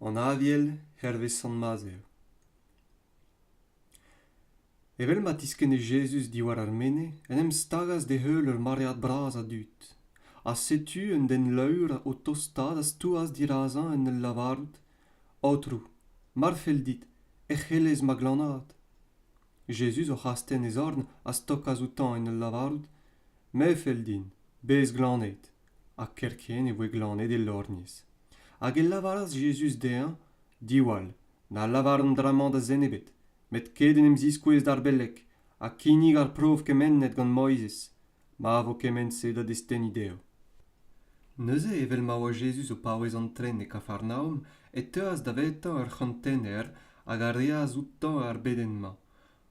An Aviel hervez Sant-Mazer Evel ma tiskenne Jezuz diwar ar mene, en em stagas d'e heul ur maread bras a dud. Ha setu un den laour o tostaat a stouas dirazañ en ul lavarout, Aotrou, mar fell dit, ec'h elez ma glanaat. Jezuz oc'h astenn e zorn a stokas outañ en ul lavarout, Me 'fell din, bez glaned. ha kerkent e voe glannet e lorgnez hag e lavaras Jezuz dezhañ diwall na lavar an dra-mañ da zen ebet met ket en em ziskouez d'ar beleg ha kinnig ar prov kemennet gant Moizez ma vo kement-se da destenniñ dezho. Neuze, evel ma oa Jezuz o paouez antren e Kafarnaom, e teuas davetañ ur c'hantener hag a reas outañ ar bedenn-mañ,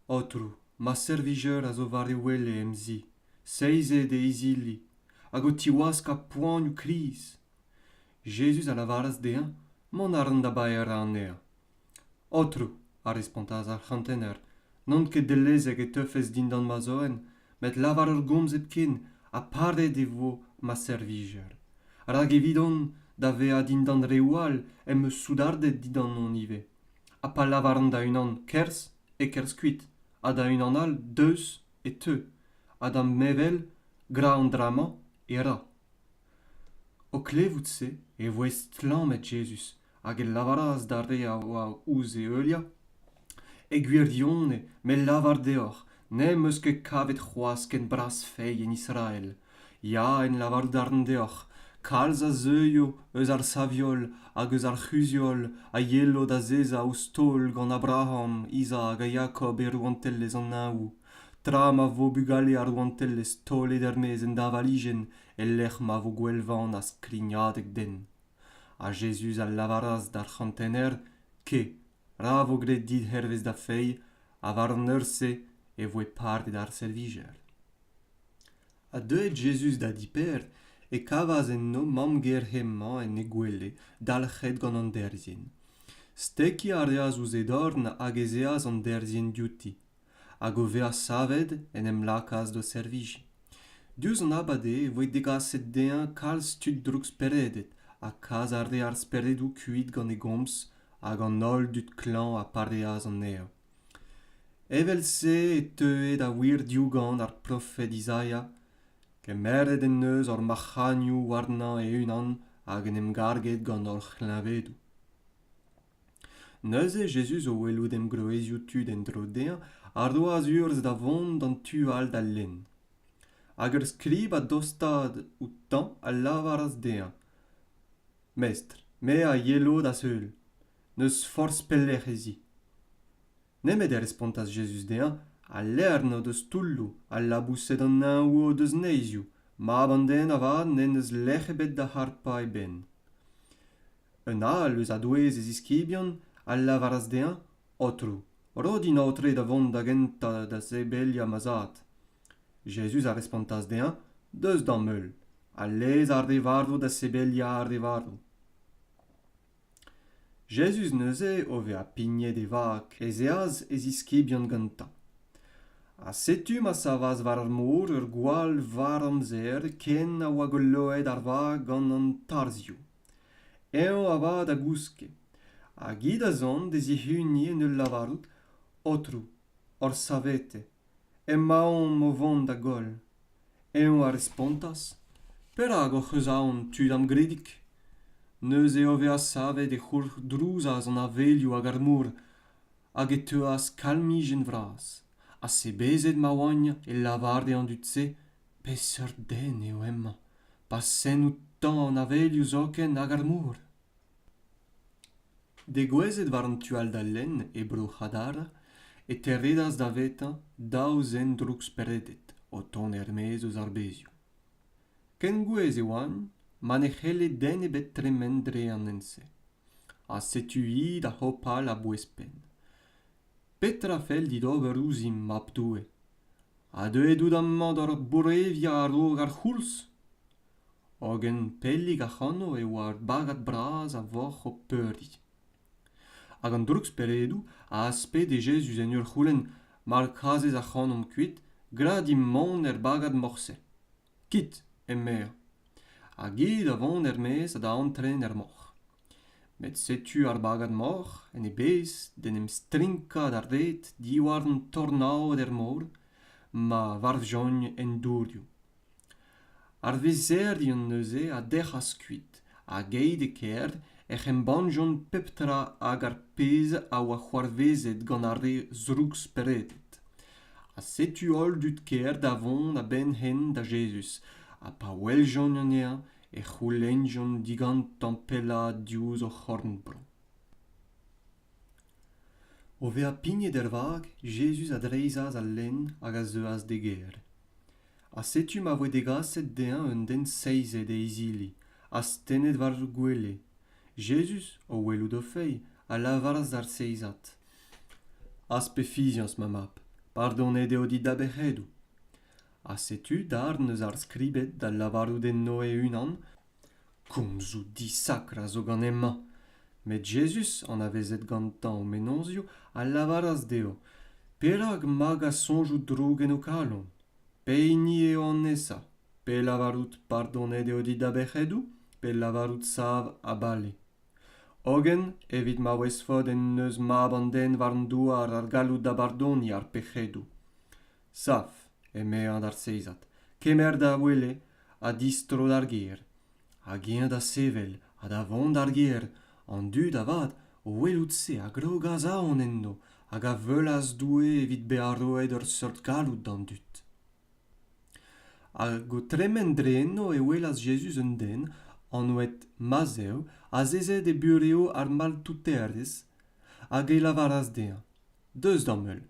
Aotrou, ma servijeur a zo war e wele em zi. seizet e izili hag o tiwaskañ poanioù kriz Jezuz a lavaras dezhañ mont a ran da baeañ anezhañ. Aotrou, a respontas ar c'hantener, n'on ket dellezek e teufes dindan ma zoenn, met lavar ur gomz hepken ha paret e vo ma servijer. Rak evidon, da vezañ dindan reoù all em eus soudarded didanon ivez. Ha pa lavaran da unan kerzh, e kerzh kuit, ha da unan all deus, e teu, ha d'an nevel, gra an dra-mañ e ra. O klevout-se e voe stlammet Jezuz hag e lavaras d'ar re a oa ouzh e heuliañ, E gwirionez, me 'lavar deoc'h, n'em eus ket kavet c'hoazh ken bras feiz en Israel, Ya, en lavar darn deoc'h, kalz a zeuio eus ar saviol hag eus ar c'huzhiol a yelo da zezañ ouzh taol gant Abraham, Izak ha Jakob e rouantelezh an Neñvoù, tra ma vo bugale ar rouantelezh taolet er-maez en deñvalijenn e-lec'h ma vo gwellvaon ha skrignadeg den. Ha Jezuz a lavaras d'ar c'hantener, Ke, ra vo graet dit hervez da feiz ha war an eur-se e voe partet ar servijer ha deuet jezuz da diper e kavas enno mamm-ger hemañ en he gwele dalc'het gant an derzhienn stekiñ a reas ouzh he dorn hag ez eas an derzhienn diouti hag o vezañ savet en em lakaas d'o servijiñ. Diouzh an abad eo e voe degaset dezhañ kalz tud droukspereded ha kas a rae ar speredoù kuit gant e gomz hag an holl dud klañv a pareas anezhañ. Evel-se e teue da wir diougan ar profed Izaia. Kemeret en deus hor mac'hagnoù warnañ e-unan hag en em garget gant hor c'hleñvedoù. Neuze Jezuz o welout engroezioù tud en-dro dezhañ a roas urzh da vont d'an tu all d'al lenn. Hag ur skrib a dostaat outañ a lavaras dezhañ Mestr, me a yelo da-heul. N'eus forzh pelec'h ez i. nemet e respontas Jezuz dezhañ al levr n'o deus toulloù al laboused an Neñv o deus neizioù mab an den avat n'en deus lec'h ebet da harpañ e benn. Un all eus a-douez e ziskibion a lavaras dezhañ Aotrou, ro din aotre da vont da gentañ da sebeliañ ma zad. Jezuz a respontas dezhañ Deus d'am heul ha lez ar re varv da sebeliañ ar re varv. Jezuz neuze, o vezañ pignet e vag, ez eas e ziskibion gantañ. Ha setu ma savas war ar mor ur gwall varr-amzer ken a oa goloet ar vag gant an tarzhioù. Eñ avat a gouske, hag hi da zont d'e zihuniñ en ul lavarout, Aotrou, hor savete emaomp o vont da goll eñ a respontas perak hoc'h eus aon tud amgredik neuze e vezañ savet e c'hourc'hdrouzas an avelioù hag ar mor hag e teuas kalmijenn vras ha sebezet ma oagn e lavar dezhañ an dud-se peseurt den eo hemañ pa sent outañ an avelioù zoken hag ar mor Degouezhet war an tu all d'al lenn, e Bro-C'hadar, e teredas davetañ daou zen droukspereded o tont er-maez eus ar bezioù. Ken gouez e oant ma ne c'helle den ebet tremen dre an hent-se. Ha setu-hi da hopal a-bouez-penn. Petra fell dit ober ouzhimp, mab Doue? Ha deuet out amañ d'ur boureviañ a-raok ar c'houlz? hogen pellik ac'hano e oa ur bagad bras a voc'h o peuriñ hag an drouksperedoù a aspede jezuz en ur c'houlenn mar kazez ac'hanomp kuit gra dimp mont er bagad morse kit emezañ hag eo da vont er-maez ha da antren er moc'h met setu ar bagad-moc'h en e bezh d'en em strinkañ d'ar red diwar an tornaod er mor ma varvjont en dourioù ar vizerien neuze a dec'has kuit hag aet e-kêr ec'h embannjont pep tra hag ar pezh a oa c'hoarvezet gant ar re zrouksperedet ha setu holl dud kêr da vont a-benn-henn da jezuz ha pa weljont anezhañ e c'houlennjont digantañ pellaat diouzh o c'horn-bro O vezañ pignet er vag, Jezuz a dreizhas al lenn hag a zeuas d'e gêr. Ha setu ma voe degaset dezhañ un den seizet e izili, astennet war gwele. Jezuz, o welout o feiz, a lavaras d'ar seizad: Az pe fiziañs, ma mab, pardonet eo dit da bec'hedoù. Ha setu darn eus ar skribed da lavarout enno e-unan Komzoù disakr a zo gant hemañ, met Jezuz, anavezet gantañ o mennozioù, a lavaras dezho perak magañ soñjoù droug en ho kalon, pehini eo an nesañ, pe lavarout pardonet eo dit da bec'hedoù, pe lavarout sav ha bale. Hogen evit ma ouezfot en deus Mab an Den war an douar ar galloud da bardoniñ ar pec'hedoù. saf eme an arsezad kemer da wele ha distro d'ar gêr hag eñ da sevel ha da vont d'ar gêr an dud avat o welout se a grog a-zaon enno hag a veulas doue evit bezañ roet ur seurt galloud d'an dud hag o tremen dre enno e welas Jezuz un den anvet Mazev azezet e burev ar maltouterez hag e lavaras dezhañ Deus d'am heul.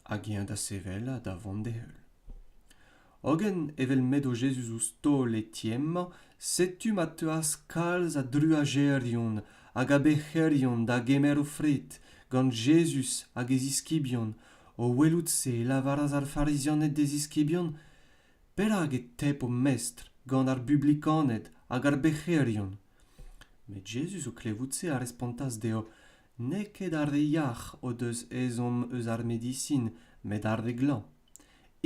Hag eñ da sevel ha da vont d'e heul. Hogen, evel m'edo Jezuz ouzh taol Etienne emañ, setu ma teuas kalz a druajerion hag a bec'herion da gemer o fred gant Jezuz hag e ziskibion, o welout-se e lavaras ar Farizianed d'e ziskibion, Perak e tep ho mestr gant ar bublikaned hag ar bec'herion? Met Jezuz, o klevout se, a respontas dezho, n'eo ket ar re yac'h o deus ezhomm eus ar medisin met ar re glañv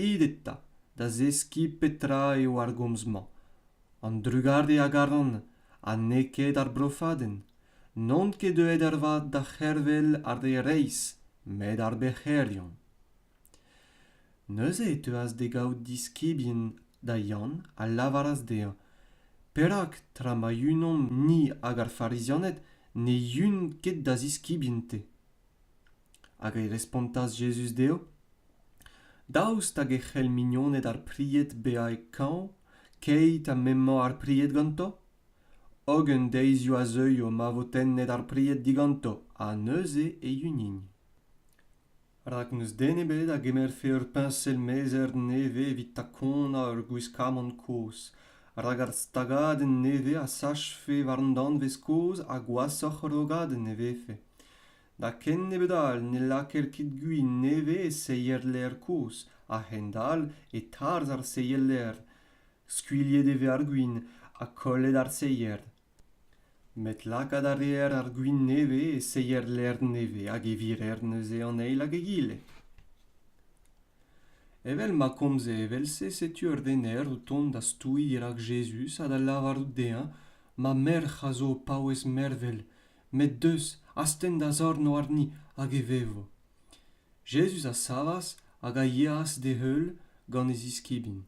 it eta da zeskiñ petra eo ar gomz-mañ an drugare a garan ha n'eo ket ar brofadenn n'on ket deuet ervat da c'hervel ar re reizh met ar bec'herion Neuze e teuas d'e gaout diskibien da Yann a lavaras dezhañ Perak, tra ma yunomp-ni hag ar Farizianed, ne yun ket da ziskibien-te? Hag e respontas Jezuz dezho Daoust hag e c'hell mignoned ar pried bezañ e kañv keit ha m'emañ ar pried ganto? Hogen deizioù a zeuio ma vo tennet ar pried diganto, ha neuze e yunin. rak n'eus den ebet a gemerfe ur peñsel mezer nevez evit takonañ ur gwiskamant kozh rak ar stagadenn nevez a sachfe war an danvez kozh ha gwashoc'h ur rogadenn e vefe da ken nebeut all ne lakaer ket gwin nevez e seier-lêr kozh a-hend-all e tarzh ar seier-lêr skuilhet e vez ar gwin ha kollet ar seier met lakaat a reer ar gwin nevez e seier lec'h nevez hag e virer neuze an eil hag egile evel ma komze evel-se setu ur rener o tont da stouiñ rak jezuz ha da lavarout dezhañ ma merc'h a zo o paouez mervel met deus astenn da zorn warni hag e vevo Jezuz a savas hag a yeas d'e heul gant e ziskibien.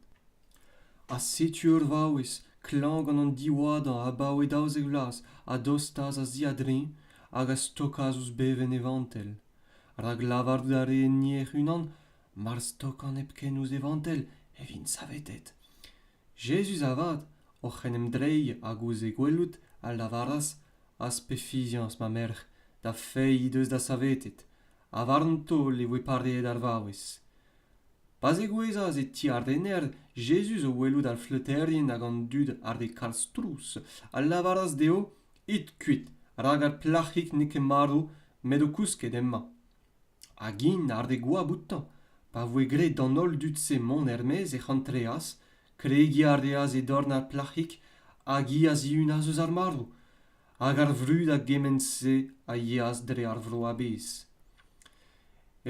Ha setu ur vaouez klañv gant an diwadañ abaoe daouzek vloaz a dostas a-ziadreñv hag a stokas ouzh bevenn e vantell, rak lavarout a rae enni hec'h-unan mar stokan hepken ouzh e vantell e vin savetet. Jezuz avat, oc'h en em dreiñ hag ouzh e gwelout, a lavaras, Az pe fiziañs, ma merc'h, da fae he deus da savetet, ha warn-to e voe pareet ar vaouez. Pa zegouezhas e ti ar rener, Jezuz, o welout ar fleuterien hag an dud àr e kalz trouz, a lavaras dezho, It kuit, rak ar plac'hig n'eo ket marv met o kousket emañ. hag int àr e goab outañ. Pa voe graet d'an holl dud-se mont er-maez ec'h antreas, kregiñ a reas e dorn ar plac'hig hag hi a zihunas eus ar marv. Hag ar vrud a gement-se a yeas dre ar vro a-bezh.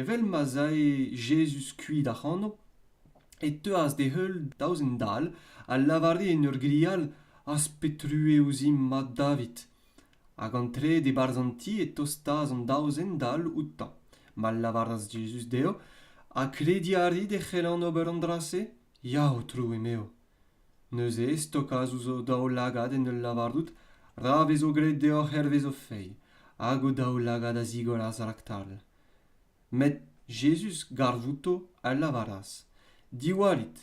Evel ma'z ae Jezuz kuit ac'hano, e teuas d'e heul daou zen dall a lavare en ur grial, Az pet true ouzhimp, mab David? hag an trede e-barzh an ti e tostaas an daou zen dall outañ ma lavaras Jezuz dezho ha krediñ a rit e c'hellan ober an dra-se ya aotrou emeo neuze e stokas ouzh o daoulagad en ul lavarout ra vezo graet deoc'h hervez ho feiz hag o daoulagad a zigoras raktal met Jezuz garv outo a lavaras diwallit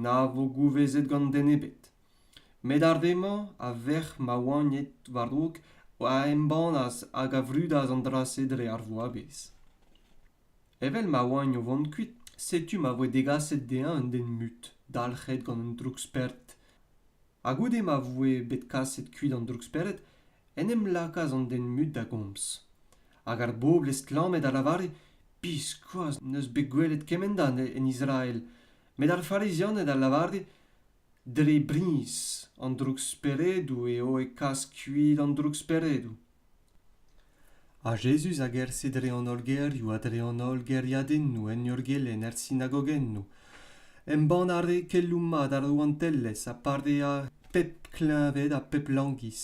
na vo gouvezet gant den ebet met ar re-mañ a verc'h ma oagned war-raok a embannas hag a vrudas an dra-se dre ar voavezh evel ma oagn o vont kuit setu ma voe degaset dezhañ un den mut dalc'het gant un droukspered ha goude ma voe bet kaset kuit an droukspered en em lakaas an den mut da gomz hag ar bobl estlammet a lavare biskoazh n'eus bet gwelet kement-a en israel met ar farizianed a lavare dre briz an drouksperedoù eo e kas kuit an drouksperedoù ha jezuz a gerse dre an holl gêrioù ha dre an holl gêriadennoù en ur gelenn er sinagogennoù embann a rae keloù mat ar rouantelezh ha pareañ pep kleñved ha pep langiz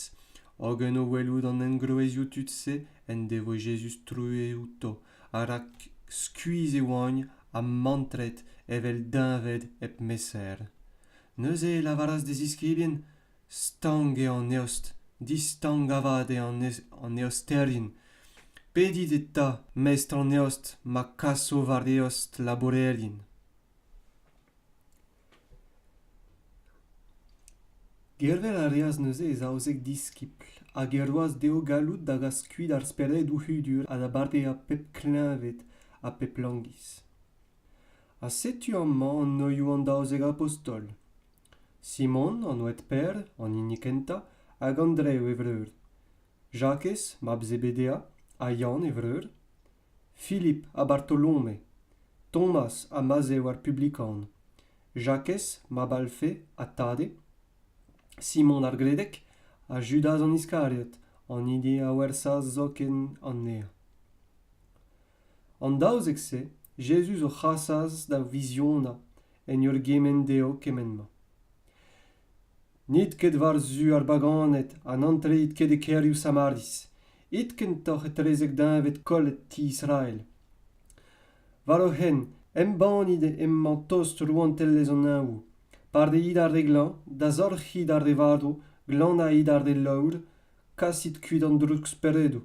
hogen o welout an engroezioù tud-se en devoe jezuz truez outo ha rak skuizh e oagn ha mantret evel deñved hep mesaer neuze e lavaras d'e ziskibien stank eo an eost distank avat eo an eosterien pedit eta mestr an eost ma kaso war eost labourerien Gervel a reas neuze e zaouzek diskibl hag e roas dezho galloud da gas kuit ar speredoù hudur ha da badeañ pep kleñved ha pep langiz. Ha setu amañ anoioù an daouzek abostol Simon, an oad-Per, an hini kentañ, hag Andrev e vreur, Jakez, mab Zebedea, ha Yann e vreur, Philip ha Bartolome, Thomas ha Mazev ar Publikan, Jakez, mab Alfe ha Tade, Simon ar Gledek ha Judaz an Iskariot, an hini a wersas zoken anezhañ. An daouzek-se Jezuz o c'hasas da viziona en ur gemenn dezho kement-mañ. N'it ket war-zu ar baganed ha n'antreit ket e kêrioù Samaris. It kentoc'h etrezek deñved kollet ti Israel. War o hent, embannit emañ tost rouantelezh an Neñvoù. Pardeit ar re glañv, dazorc'hit ar re varv, glanait ar re laour, kasit kuit an drouksperedoù.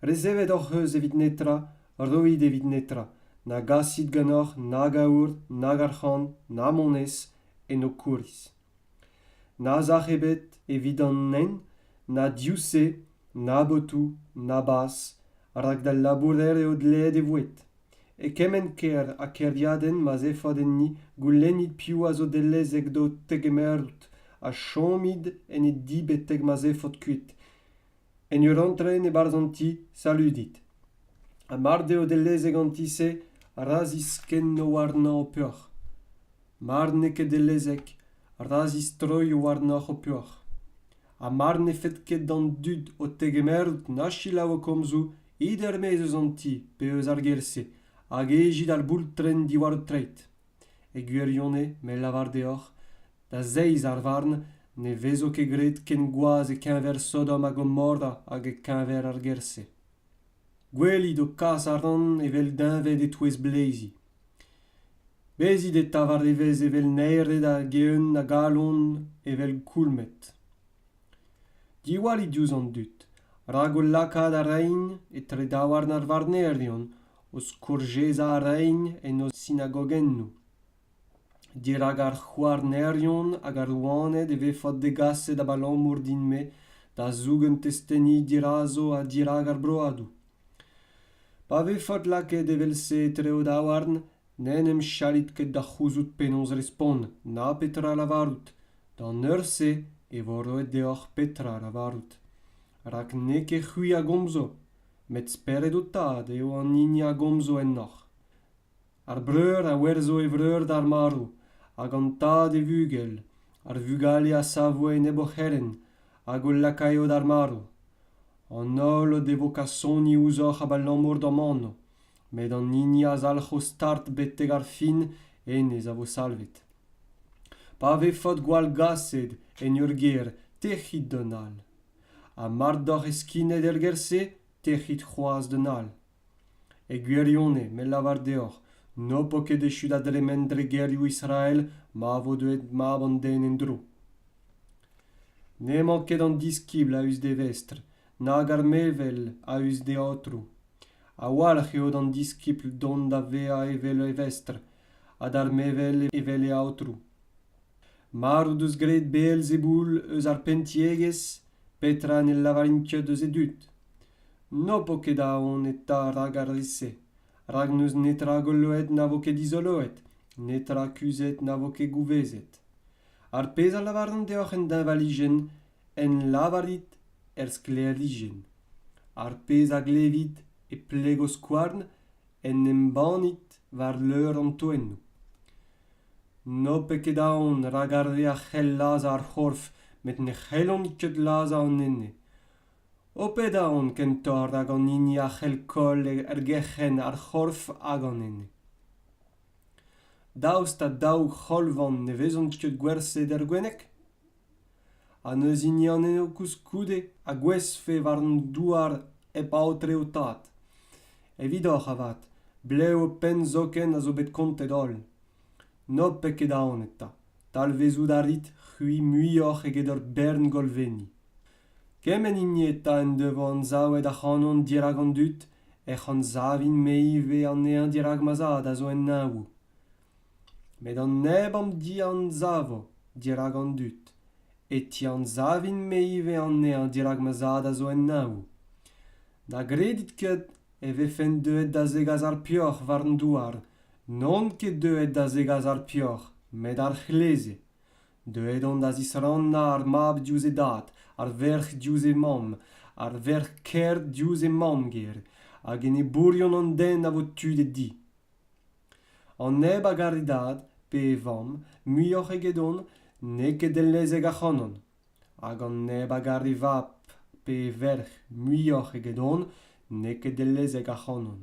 Resevet hoc'h eus evit netra, roit evit netra, na gasit ganeoc'h nag aour, nag arc'hant, na monez, en ho kouriz. Na sac'h ebet evit an nenv na div-se na botoù na bazh rak d'al labourer eo dleet e voued e kement kêr ha kêriadenn ma 'z efot enni goulennit piv a zo dellezek d'ho tegemerout ha chomit en he di betek ma 'z efot kuit En ur antren e-barzh an ti, saludit. Ha mard eo dellezek an ti-se, ra ziskenno warnañ ho peoc'h. Mar n'eo ket dellezek, ra zistroio warnoc'h ho peoc'h. Ha mar ne fed ket d'an dud ho tegemerout na selaou ho komzoù, it er-maez eus an ti pe eus ar gêr-se, hag ejit ar boultrenn diwar ho treid. E gwirionez, me lavar deoc'h, da zeiz ar varn ne vezo ket graet ken gwaz e-keñver Sodom ha Gomorra hag e-keñver ar gêr-se. Gwelit ho kas a ran evel deñved e-touez bleizi. Bezit eta war evezh evel naered hag eeun a galon evel koulmed. Diwallit diouzh an dud, rak o lakaat a raint etre daouarn ar varnerion o skourjezañ reiñ en o sinagogennoù. dirak ar c'houarnerion hag ar rouaned e vefot degaset abalamour din-me da zougen testeni dirazo ha dirak ar broadoù. Pa vefot lakaet evel-se etre o daouarn n'en em chalit ket da c'houzout penaos respont na petra lavarout d'an eur-se e vo roet deoc'h petra lavarout rak n'eo ket c'hwi a gomzo met spered ho tad eo an hini a gomzo ennoc'h ar breur a werzho e vreur d'ar marv hag an tad e vugel ar vugale a savo enep o c'herent hag o lakaio d'ar marv an holl o devo kasoni ouzhoc'h abalamour d'am anv met an hini a zalc'ho start betek ar fin hennezh a vo salvet pa vefot gwall gaset en ur gêr tec'hit d'an holl ha mar doc'h eskinet er gêr-se tec'hit c'hoazh d'an all e gwirionez me lavar deoc'h n'ho po ket echu da dremen dre gêrioù israel ma vo deuet mab an den en-dro n'emañ ket an diskibl a-us d'e vestr nag ar mevel a-us d'e aotrou a-walc'h eo d'an diskibl dont da vezañ evel e vestr ha d'ar mevel evel e aotrou Mard o deus graet Beelzeboul eus ar penntiegezh, petra ne lavarin ket eus e dud? N'ho po ket aon eta rak ar re-se, rak n'eus netra goloet na vo ket dizoloet, netra kuzhet na vo ket gouvezet. Ar pezh a lavaran deoc'h en deñvalijenn, en lavarit er sklêrijenn. Ar pezh a glevit e plego skouarn, en embannit war leur an toennoù n'ho pet ket aon rak ar re a c'hell lazhañ ar c'horf met ne c'hellont ket lazhañ an ene ho pet aon kentoc'h rak an hini a c'hell koll er gerc'henn ar c'horf hag an ene daoust ha daou c'holvan ne vezont ket gwerzhet er gwenneg ha n'eus hini anezho koulskoude a gouezhfe war an douar hep aotre ho tad evidoc'h avat blev ho penn zoken a zo bet kontet holl n'ho-pet ket aon eta talvezout a rit c'hwi muioc'h eget ur bern golvenni kement hini eta en devo anzavet ac'hanon dirak an dud ec'h anzavin-me ivez anezhañ dirak ma zad a zo en neñvoù met an neb am dianzavo dirak an dud e tianzavin-me ivez anezhañ dirak ma zad a zo en neñv na gredit ket e vefen deuet da zegas ar peoc'h war an douar n'on ket deuet da zegas ar peoc'h met ar c'hleze deuet on da zisrannañ ar mab diouzh e dad ar verc'h diouzh e mamm ar verc'h kêr diouzh he mamm-ger hag enebourion an den a vo tu d'e di an neb a gar e dad pe e vamm muioc'h egedon n'eo ket dellezek ac'hanon hag an neb a gar e vab pe e verc'h muioc'h egedon n'eo ket dellezek ac'hanon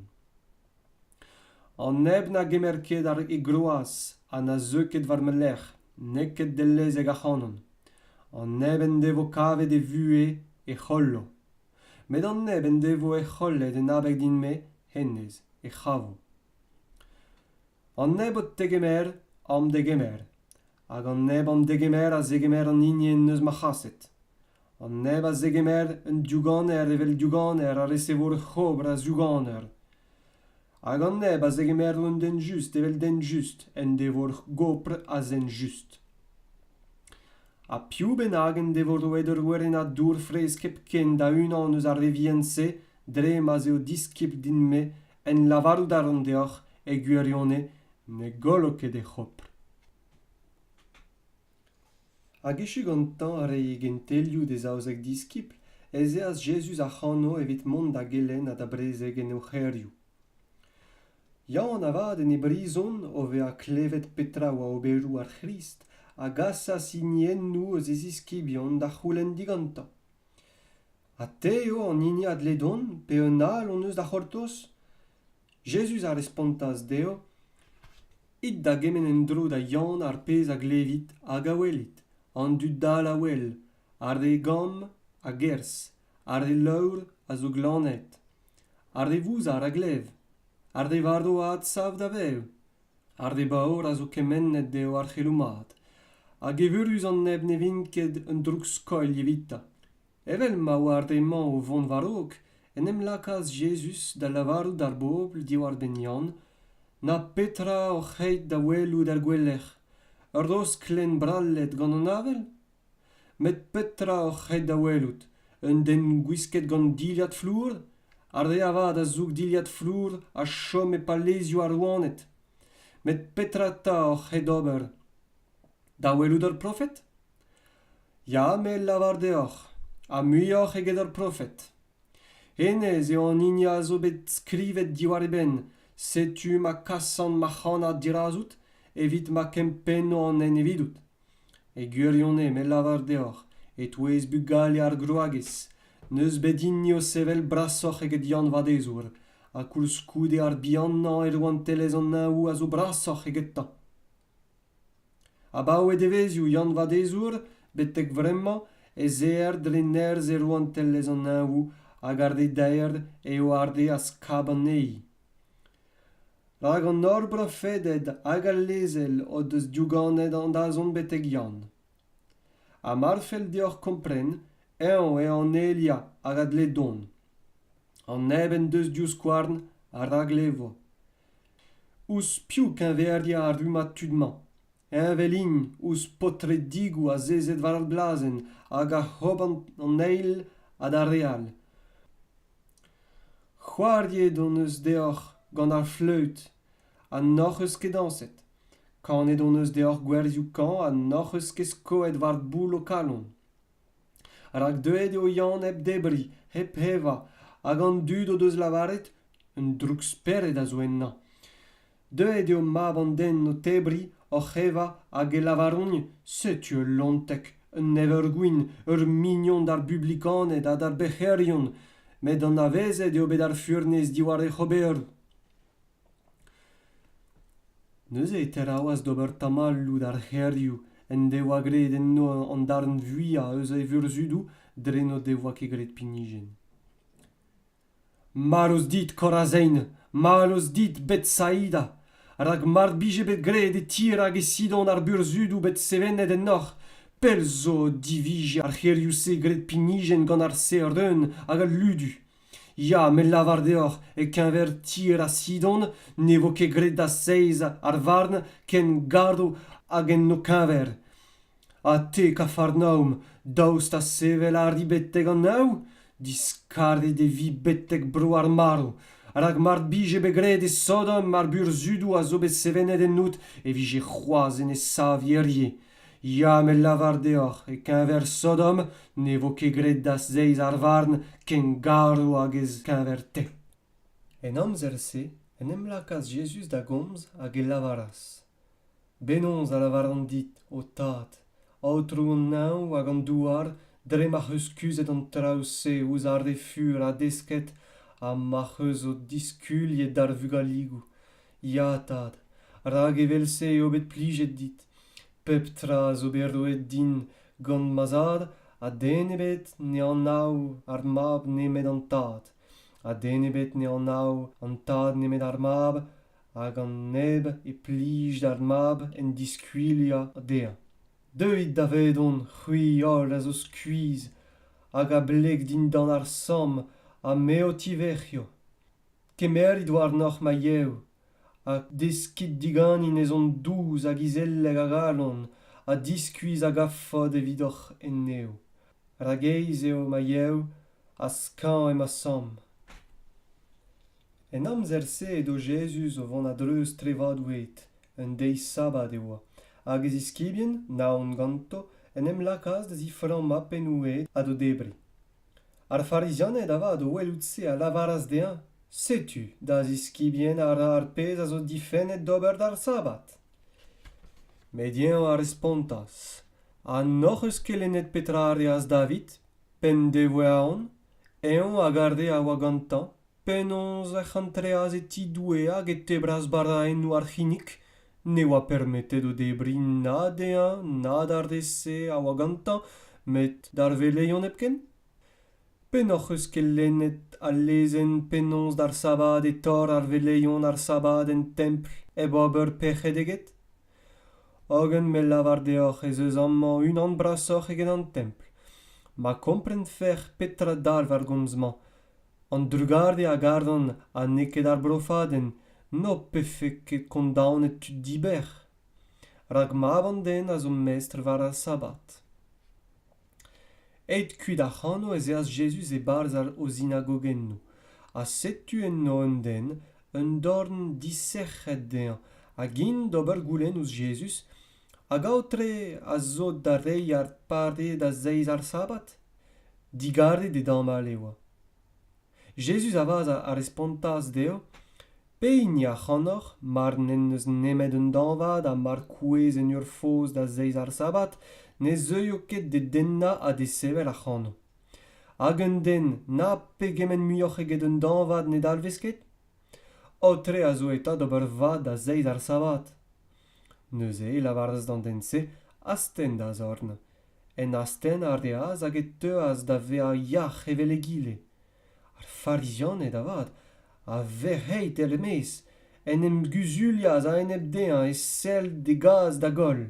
an neb na gemer ket ar e groaz ha na zeu ket war ma lerc'h n'eo ket dellezek ac'hanon an neb en devo kavet e vuhez e c'hollo met an neb en devo he c'hollet en abeg din-me hennezh e c'havo an nebeud tegemer am degemer hag an neb am degemer a zegemer an hini en deus ma c'haset an neb a zegemer un diouganer evel diouganer a resevo ur c'hobr a zouganer hag an neb a zegemer un den just evel den just en devo ur gopr a zen just ha piv bennak en devo roet ur werennad dour fraezh hepken da unan eus ar revien-se dre ma'z eo diskibl din-me en lavarout a ran deoc'h e gwirionez ne gollo ket e c'hopr. Hag echu gantañ reiñ gentelioù d'e zaouzek diskibl ez eas Jezuz ac'hano evit mont da gelenn ha da brezeg en o c'hêrioù. Yaouank avat en e brizon, o vezañ klevet petra oa oberoù ar C'hrist, a gasas hiniennoù eus e ziskibion da c'houlenn digantañ. Ha te eo an hini a dle dont, pe un all hon eus da c'hortoz ? Jezuz a respontas dezho, It da gemenn en-dro da Yann ar pezh a glevit hag a welit, an dud dall a wel, ar re gamm a gerzh, ar re leur a zo glannet, ar re vouzar a glev, ar re varv a adsav da vev, ar re baour a zo kemennet eo ar c'heloù mat hag evurus an neb ne vint ket un droug-skoilh evitañ evel ma oar re-mañ o vont war-raok en em lakaas jezuz da lavarout d'ar bobl diwar-benn Yann na petra oc'h aet da welout er gouelec'h ur rosklenn brallet gant an avel met petra oc'h ret da welout un den gwisket gant dilhad flour ar re avat a zoug dilhad flour a chom e palezioù ar rouaned met petra 'ta oc'h ret ober da welout ur profed ya me lavar deoc'h ha muioc'h eget ur profed hennezh eo an hini a zo bet skrivet diwar e benn setu ma kasan ma c'hannad dirazout evit ma kempenno an hent evidout E gwirionez me 'lavar deoc'h, e-touez bugale ar gwragez, n'eus bet hini o sevel brasoc'h eget Yann Vadezour, ha koulskoude ar bihanañ e rouantelezh an Neñvoù a zo brasoc'h egetañ. Abaoe devezhioù Yann Vadezour, betek-vremañ, ez eer dre nerzh e rouantelezh an Neñvoù hag ar re daer eo ar re a skab anezhi. rak an holl brofeded hag al lezel o deus diouganet an dazont betek yann ha mar fell deoc'h kompren eñ eo an elia hag a dle dont an neb en deus divskouarn a raglevro ouzh piv keñveriañ ar rummad tud-mañ heñvel int ouzh paotredigoù azezet war ar glazenn hag oc'h ober an eil ha d'ar re all c'hoariet hon eus deoc'h gant ar fleüt ha n'hoc'h eus ket dañset kanet hon eus deoc'h gwerzioù kañv ha n'hoc'h eus ket skoet war boul ho kalon rak deuet eo Yann hep debriñ hep evañ hag an dud o deus lavaret un droukspered a zo ennañ deuet eo mab an den o tebriñ oc'h evañ hag e lavaront setu ul lonteg un evergwin ur mignon d'ar bublikaned ha d'ar bec'herion met anavezet eo bet ar furnez diwar hec'h ober Neuze e teraouas d'ober tamalloù d'ar c'hêrioù en devoa graet enno an darn vuiañ eus e vurzhudoù dre n'o devoa ket graet pinijenn. Marv dit, Korazein! Mallus dit, Betsaida! Rak mar bije bet graet e tirag e Sidon ar burzhudoù bet sevenet ennoc'h, pell zo o divije ar c'hêrioù-se graet pinijenn gant ar Seren hag al Ludu. Ya, me 'lavar deoc'h, e-keñver tier ha Sidon ne vo ket graet da seiz ar varn ken gardo hag en ho keñver. Ha te, Kafarnaom, daoust ha sevel a ri betek an neñv? Diskarget e vi betek bro ar marv, rak mar bije bet graet e Sodom ar burzudoù a zo bet sevenet ennout e vije c'hoazh en e sav hirie. Ya, met lavar deoc'h, e-keñver Sodom ne vo ket graet da zeiz ar varn ken garv hag e-keñver-te. En amzer-se en em lakaas Jezuz da gomz hag e lavaras, Penaos a lavaran dit, ho Tad, Aotrou an Neñv hag an douar, dre m'ac'h eus kuzhet an traoù-se ouzh ar re fur ha desket ha m'ac'h eus ho diskuliet d'ar vugaligoù, ya tad rak evel-se eo bet plijet dit pep tra zo bet roet din gant ma zad ha den ebet ne anav ar mab nemet an tad ha den ebet ne anav an tad nemet ar mab hag an neb e plij d'ar mab en diskuilhañ dezhañ deuit davedon c'hwi holl a zo skuizh hag a bleg dindan ar samm ha me o tivec'hio Kemerit warnoc'h ma yev, ha deskit diganin ezhomm dous hag izelek a galon, ha diskuizh a gavfot evidoc'h en-nev. Ragaez eo ma yev, ha skañv eo ma samm. En amzer-se edo Jezuz o vont a-dreuz trevadoù-ed. Un deiz sabad e oa, hag e ziskibien, naon ganto, en em lakaas da ziframmañ pennoù-ed ha d'o debriñ. ar farizianed avat o welout-se a lavaras dezhañ setu da ziskibien a ra ar pezh a zo difennet d'ober d'ar sabbat met eñ a respontas ha n'hoc'h eus kelennet petra a reas david p'en devoe aon eñ hag ar re a oa gantañ Penaos ec'h antreas e ti Doue hag e tebras baraennoù ar c'hinnig ne oa permetet o debriñ na dezhañ na d'ar re-se a oa gantañ met d'ar veleion hepken? Pennoc'h eus kelennet al lezenn penaos d'ar sabad e tor ar veleion ar sabad en templ hep ober pec'hed eget? Hogen me lavar deoc'h ez eus amañ unan brasoc'h eget an templ. Ma komprenfec'h petra dalv ar gomz-mañ an drugarez a garan ha n'eo ket ar brofadenn n'ho pefe ket kondaonet tud diber rak mab an den a zo mestr war ar sabad aet kuit ac'hano ez eas jezuz e-barzh o zinagogennoù ha setu enno un den un dorn disec'het dezhañ hag int d'ober goulenn ouzh jezuz Hag aotre a zo da reiñ ar pare da zeiz ar sabad ? Digaret e damall e oa. Jezuz avat a respontas dezho, Pehini ac'hanoc'h, mar n'en deus nemet un dañvad ha mar kouezh en ur foz da zeiz ar sabad, ne zeuio ket d'e dennañ ha d'e sevel ac'hano. Hag un den na pegement muioc'h eget un dañvad ne dalvez ket ? Aotre a zo eta d'ober vad da zeiz ar sabad. neuze e lavaras d'an den-se astenn da zorn en astenn a reas hag e teuas da vezañ yac'h evel egile ar farizianed avat a vec'hei tel er-maez en em guzulias a-enep dezhañ e sell d'e gaz da goll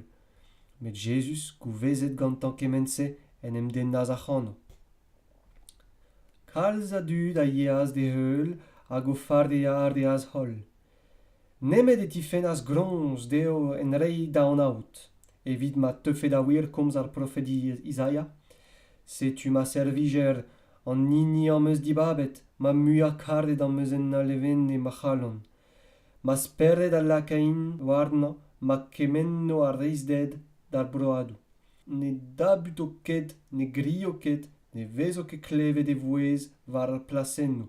met jezuz gouvezet gantañ kement-se en em dennas ac'hano kalz a dud a yeas d'e heul hag o farea a reas holl nemet e tifennas groñs dezho en reiñ da anaout evit ma teufe da wir komz ar profedi Izaia setu ma servijer an hini am eus dibabet ma muiañ-karet am eus en alevenne ma c'halon ma spered a lakain warnañ ma kemenno ar reizhded d'ar broadoù ne dabuto ket ne grio ket ne vezo ket klevet e vouezh war ar plasennoù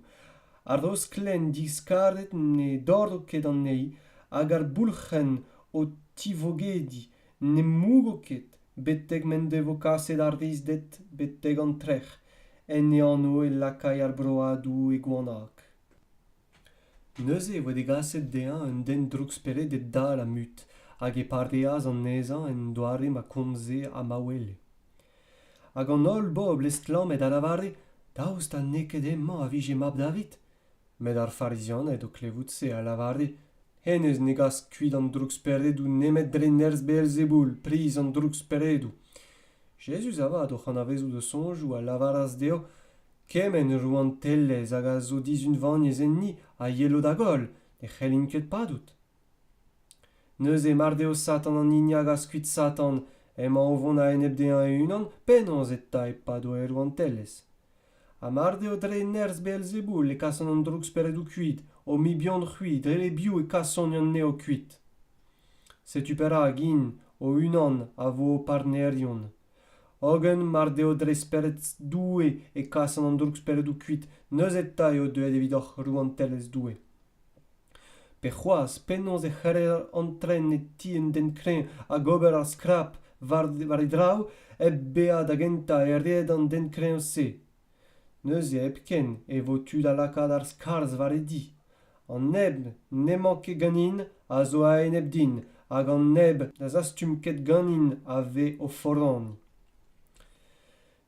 ar rosklen diskarget ne dorro ket anezhi hag ar boulc'henn o tivogediñ ne mougo ket betek m'en devo kaset ar rizded betek an trec'h en e anv e lakay ar broadoù e goanag Neuze e voe degaset dezhañ un den drouksperedek dall ha mut hag e pareas anezhañ en doare ma komze ha ma wele. Hag an holl bobl estlammet a lavare daoust ha n'eo ket hemañ a vije mab David? Met ar Farizianed, o klevout se, a lavare hennezh ne gas kuit an drouksperedoù nemet dre nerzh Beelzeboul, priz an drouksperedoù. Jezuz avat, oc'h anavezout o soñjoù, a lavaras dezho kement rouantelezh hag a zo dizunvaniezh enni a yelo da goll ne c'hellint ket padout neuze mar deo satan an hini a gas kuit satan emañ o vont a-enep dezhañ e-unan penaos eta e pado e rouantelezh ha mar deo dre nerzh beelzeboul e kasan an drouksperedoù kuit o mibion-c'hwi dre e-biou e kasont anezho kuit setu perak int o-unan a vo o partnerion hogen mar deo dre spered Doue e kasan an drouksperedoù kuit neuze 'ta eo deuet evidoc'h rouantelezh Doue pe c'hoazh penaos e c'heller antren e ti un den kreñv hag ober ar skrap war e draoù hep bezañ da gentañ e red an den kreñv-se neuze hepken e vo tu da lakaat ar skarzh war e di an neb n'emañ ket ganin a zo a-enep din hag an neb na zastum ket ganin a ve o foran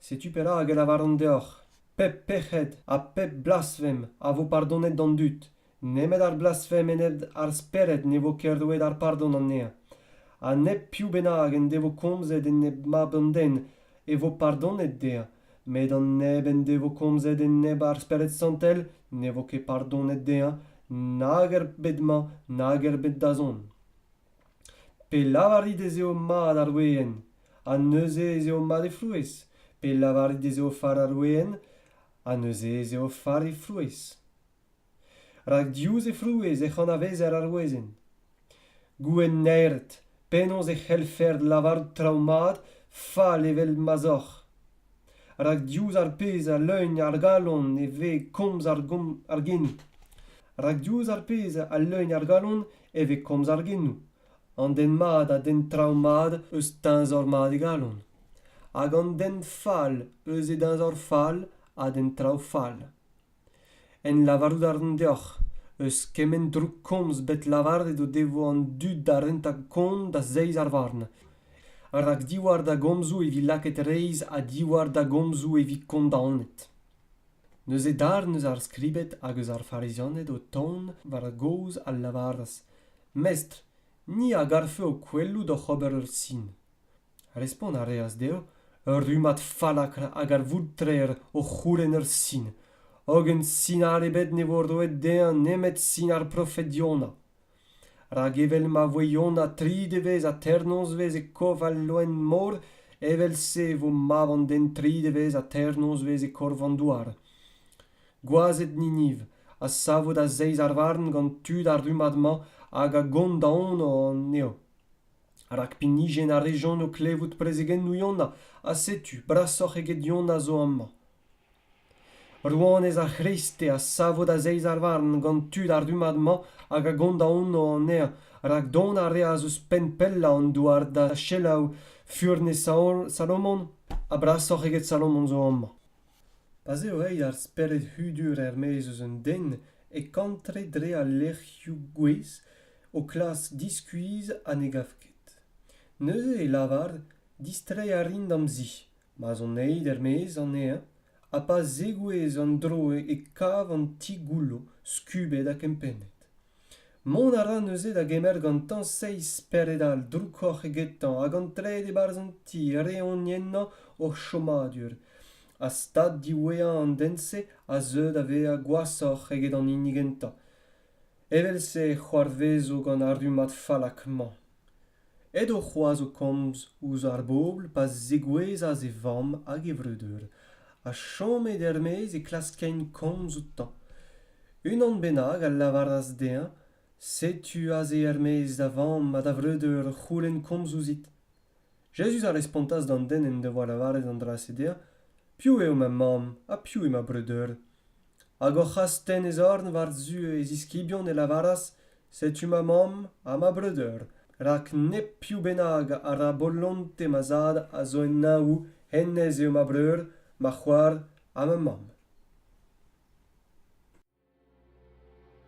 setu perak e lavaran deoc'h pep pec'hed ha pep blasfem a vo pardonet d'an dud nemet ar blasfem enep ar Spered ne vo ket roet ar pardon anezhañ. Ha nep piv bennak en devo komzet enep Mab an Den e vo pardonet dezhañ, met an neb en devo komzet enep ar Spered Santel ne vo ket pardonet dezhañ nag er bed-mañ nag er bed-dazont. Pe lavarit ez eo mat ar weenn, ha neuze ez eo mat he frouezh? Pe lavarit ez eo far ar weenn, ha neuze ez eo far he frouezh? rak diouzh he frouezh ec'h anavezer ar wezenn gouenn naeret penaos e c'hellfec'h lavarout traoù mat fall evel ma'z oc'h rak diouzh ar pezh a leugn ar galon e vez komz ar genoù rak diouzh ar pezh a leugn ar galon e vez komz ar genoù an den mat a denn traoù mat eus teñzor mat e galon hag an den fall eus e deñzor fall a denn traoù fall en lavarout a ran deoc'h eus kement droukkomz bet lavaret o devo an dud da rentañ kont da zeiz ar varn rak diwar da gomzoù e vi lakaet reizh ha diwar da gomzoù e vi kondaonet neuze darn eus ar skribed hag eus ar farizianed o tont war a gaoz a lavaras mestr ni a garfe ho kwelout oc'h ober ur sin Respont a reas dezho ur rummad fallakr a galvoud-trec'h o c'houlenn ur sin, hogen sinal ebet ne vo roet dezhañ nemet sin ar profed Yona. Rak evel ma voe Yona tri devezh ha teir nozvezh e korv al loen-mor, evel-se e vo mab an den tri devezh ha teir nozvezh e korv an douar. Gwazed Niniv a savo da zeiz ar varn gant tud ar rummad-mañ hag a gont da anv anezho. rak pinijenn a rejont o klevout prezegennoù Yona ha setu brasoc'h eget Yona zo amañ. Rouanez ar C'hreiste a savo da zeiz ar varn gant tud ar rummad-mañ hag a gont anv anezhañ rak dont a reas eus penn pellañ an douar da selaou furnez Salomon ha brasoc'h eget Salomon zo amañ. pa 'z eo reiñ ar spered hudur er-maez eus un den e kantre dre al lec'hioù gouez o klask diskuizh ha ne gav ket neuze e lavar distreiñ a rin d'am zi ma'z on aet er-maez anezhañ ha pa zegouezh an dro e kav an ti goullo skubet ha kempennet Mont a ra neuze da gemer gantañ seizh spered all droukoc'h egetañ hag an tred e-barzh an ti reont ennañ o chomadur. Ha stad diwezhañ an den-se a zeu da vezañ gwashoc'h eget an hini gentañ. Evel-se e c'hoarvezo gant ar rummad fallak-mañ. Edo c'hoazh o komz ouzh ar bobl pa zegouezhas e vamm hag e vreudeur ha chomet er-maez e klaskent komz outañ. Unan bennak a lavaras dezhañ setu aze er-maez da vamm ha da vreudeur o c'houlenn komz ouzhit. Jezuz a respontas d'an den en devoa lavaret an dra-se dezhañ, Piv eo ma mamm ha piv eo ma breudeur? Hag oc'h astenn e zorn war-zu e ziskibion e lavaras Setu ma mamm ha ma breudeur, rak nep piv bennak a ra bolonte ma zad a zo en neñvoù, hennezh eo ma breur, ma c'hoar ha ma mamm.